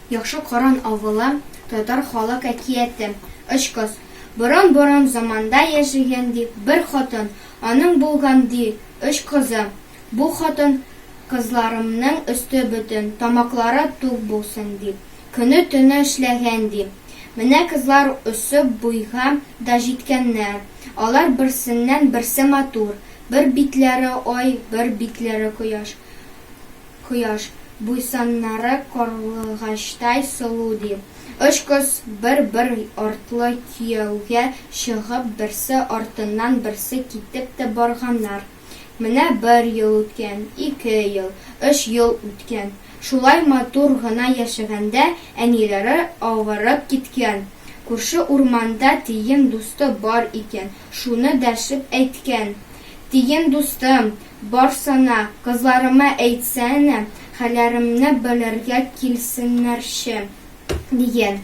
Яхшы Коран авылы татар халык әкияте. Очкос. Борын-борын заманда яшәгән ди бер хатын, аның булган ди өч кызы. Бу хатын, Кызларымның өсте бөтен, тамаклары тук булсын дип, көне-төне эшләгән, ди. Менә кызлар үсеп буйга да җиткәннәр. Алар берсеннән-берсе матур. Бер битләре ай, бер битләре кояш. Кояш. Буйсаннары карлыгачтай сылу, ди. Өч кыз бер-бер артлы кияүгә чыгып, берсе артыннан берсе китеп тә барганнар. Менә бер ел үткән, ике ел, өч ел үткән. Шулай матур гына яшәгәндә әниләре авырып киткән. Күрше урманда тиен дусты бар икән, шуны дәшеп әйткән. Тиен дустым, барсана, кызларыма әйтсәнә, хәлләремне белергә килсеннәрче, дигән.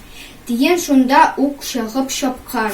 Тиен шунда ук чыгып чапкан.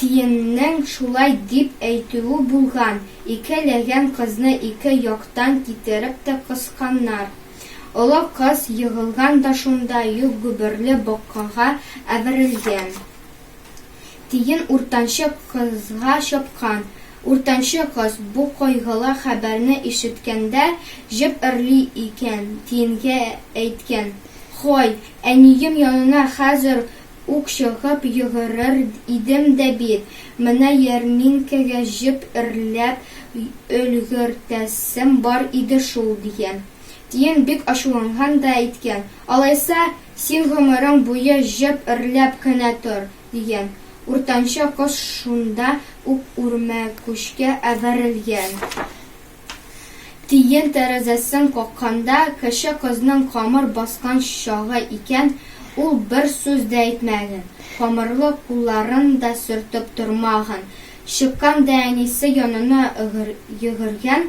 Тиеннең шулай дип әйтүе булган, ике ләгән кызны ике яктан китереп тә кысканнар. Олы кыз егылган да шунда юк гөберле боккага әверелгән. Тиен уртанчы кызга чапкан. Уртанчы кыз бу кайгылы хәбәрне ишеткәндә, җеп өрли икән, тиенгә әйткән, Һай, әнием янына хәзер Ук чыгып йөгерер идем дә бит. Менә ярминкәгә җеп эрләп өлгертәсем бар иде шул, дигән. Тиен бик ачуланган да әйткән, Алайса, син гомерең буе җеп эрләп кенә тор, дигән. Уртанчы кыз шунда ук үрмәкүчкә әверелгән. Тиен тәрәзәсен какканда, кече кызның камыр баскан чагы икән, ул бер сүз дә әйтмәгән, камырлы кулларын да сөртеп тормаган. Чыккан да әнисе янына йөгергән,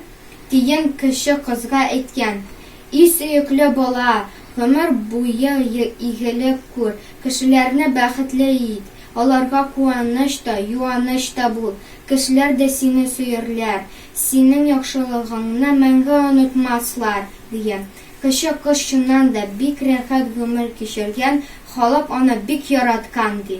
тиен кече кызга әйткән, И сөекле бала, гомер буе игелек күр, кешеләрне бәхетле ит, аларга куаныч та, юаныч та бул, кешеләр дә сине сөярләр, Синең яхшылыгыңны мәңге онытмаслар, дигән. Кече кыз чыннан да бик рәхәт гомер кичергән, халык аны бик яраткан, ди.